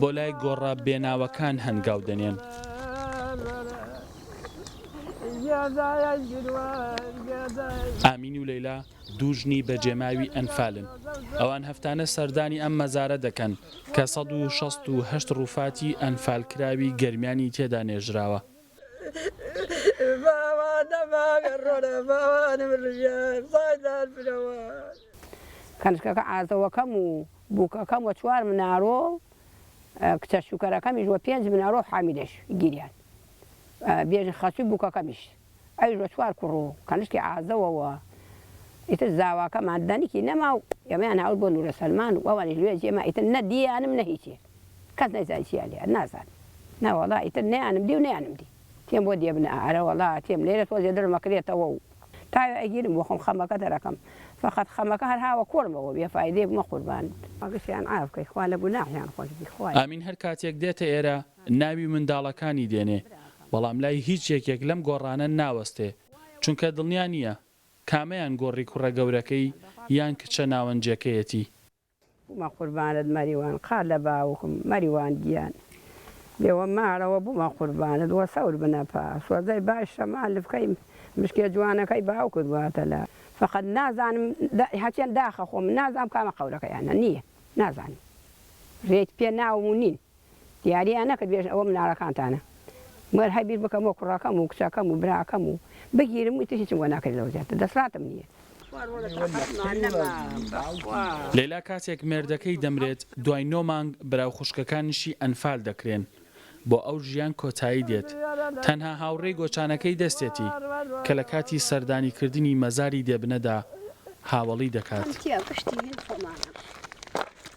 بۆ لای گۆڕە بێناوەکان هەنگاو دەنێن. ئامین و لەیلا دوو ژنی بەجێماوی ئەنفالن، ئەوان هەفتانە سەردانی ئەم مەزارە دەکەن کە سەد و شەست و هەشت ڕووفاتی ئەنفالکراوی گەرمیانی تێدا نێژراوە. کەنشکەکە ئازەوەکەم و بووکەکەم و چوار مناڵۆ و کچە شوکەرەکەمیش و پێنج مناڵۆ و حامیدەش گیریان بێژە خەسووی بووکەکەمیش ئەویش و چوار کوڕ و کەنشکی عازەوە و ئیتر زاواکەمان دەنکی نەما و ئێمەیان ناورد بۆ نوورە سەلمان و ئەوانیش لوێ جێ ما ئیتر نە دییانم نە هیچێ کەس نەیزانی چییان لێ ئەرد نازانم نەوەڵا ئیتر نەیانم دی و نەیانم دی. تێم بۆ دێبنە ئارە وەڵا تێم لێرە تۆزێ دڵم ئەکرێتەوە و تاوێ ئەگیرم بۆ خۆم خەمەکە دەرەکەم فەقەت خەمەکە هەر هاوە کۆڵمەوە بێ فایدەیە بمە قوربانت. گشتیان عاف کەی خوا لە گوناحیان خۆش بی خوایە. ئامین هەر کاتێک دێتە ئێرە ناوی منداڵەکانی دێنێ بەڵام لای هیچ یەکێک لەم گۆڕانە ناوەستێ چونکە دڵنیا نییە کامەیان گۆڕی کوڕە گەورەکەی یان کچە ناوەنجەکەیەتی. بومە قوربانت مەریوان قا لە باوکم مەریوان گیان بێوە مارەوە بومە قوربانت وە سەور بنە پا سۆزەی باش شەمال لفکەی مشکێ جوانەکەی باوکت واتە لە فەقەت نازانم دە هەچەن داخە خۆم نازانم کامە قەورەکەیانە نیە نازانم رێت پێ ناوم و نین دیاریان نەکرد بێژن ئەوە مناڵەکانتانە مەگەر هەر بیر بکەمەوە کوڕەکەم و کچەکەم و براکەم و بگیرم و ئیتر هیچم بۆ ناکرێت لەوە زیاتر دەسڵاتم نییە. لەیلا کاتێک مێردەکەی دەمرێت دوای نۆ مانگ برا و خوشکەکانیشی ئەنفال دەکرێن بۆ ئەو ژیان کۆتایی دێت تەنها هاوڕێی گۆچانەکەی دەستێتی کە لە کاتی سەردانی کردنی مەزاری دێبنەدا هاوەڵی دەکات.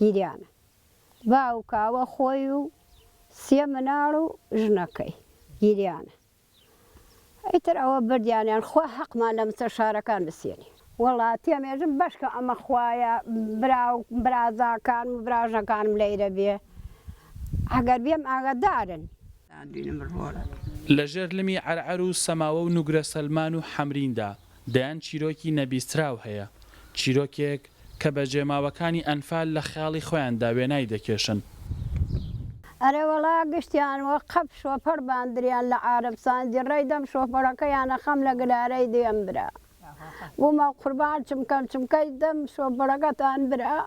گریانە باوک کاوە خۆی و سێ مناڵ و ژنەکەی گریانە ئیتر ئەوە بردیانیان خوا هەقمان لە مستەشارەکان بسێنی. وەڵا تێمێژم بەشکە ئەمە خوایە براو برازاکانم و براژنەکانم لەیرە بێ ئەگەر بێم ئاگەدارن. لە ژێر لمی عەرعەر و سەماوە و نوگرە سەلمان و حەمریندا دەیان چیرۆکی نەبیستراو هەیە، چیرۆکێک کە بەجێماوەکانی ئەنفال لە خەیاڵی خۆیاندا وێنای دەکێشن. ئەرێ وەڵا گشتیان وەک قەپ شۆفەر باندریان لە عارەب ساندی ڕێی دەم شۆفەرەکەیان ئەخەم لە گلارەی دێم برا بوومە قوربان چمکەن چمکەی دەم شۆفەرەکەتان برا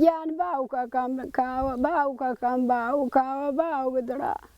گیان باوکەکەم کاوە باوکەکەم باوکاوە باوک دڵە.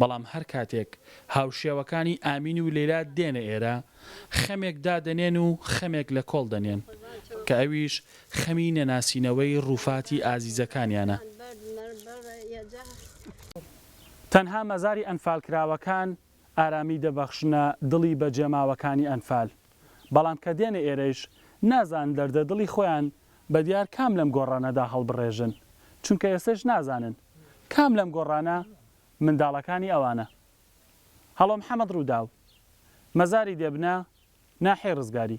بەڵام هەر کاتێک هاوشێوەکانی ئامین و لەیلا دێنە ئێرە خەمێک دادەنێن و خەمێک لە کۆڵ دەنێن کە ئەویش خەمی نەناسینەوەی ڕووفاتی ئازیزەکانیانە. تەنها مەزاری ئەنفالکراوەکان ئارامی دەبەخشنە دڵی بەجێماوەکانی ئەنفال. بەڵام کە دێنە ئێرەیش نازانن دەردە دڵی خۆیان بە دیار کام لەم گۆڕانەدا هەڵبڕێژن چونکە ئێستەیش نازانن کام لەم گۆڕانە منداڵەکانی ئەوانە هەڵۆ محەمەد ڕووداو، مەزاری دێبنە ناحیەی ڕزگاری.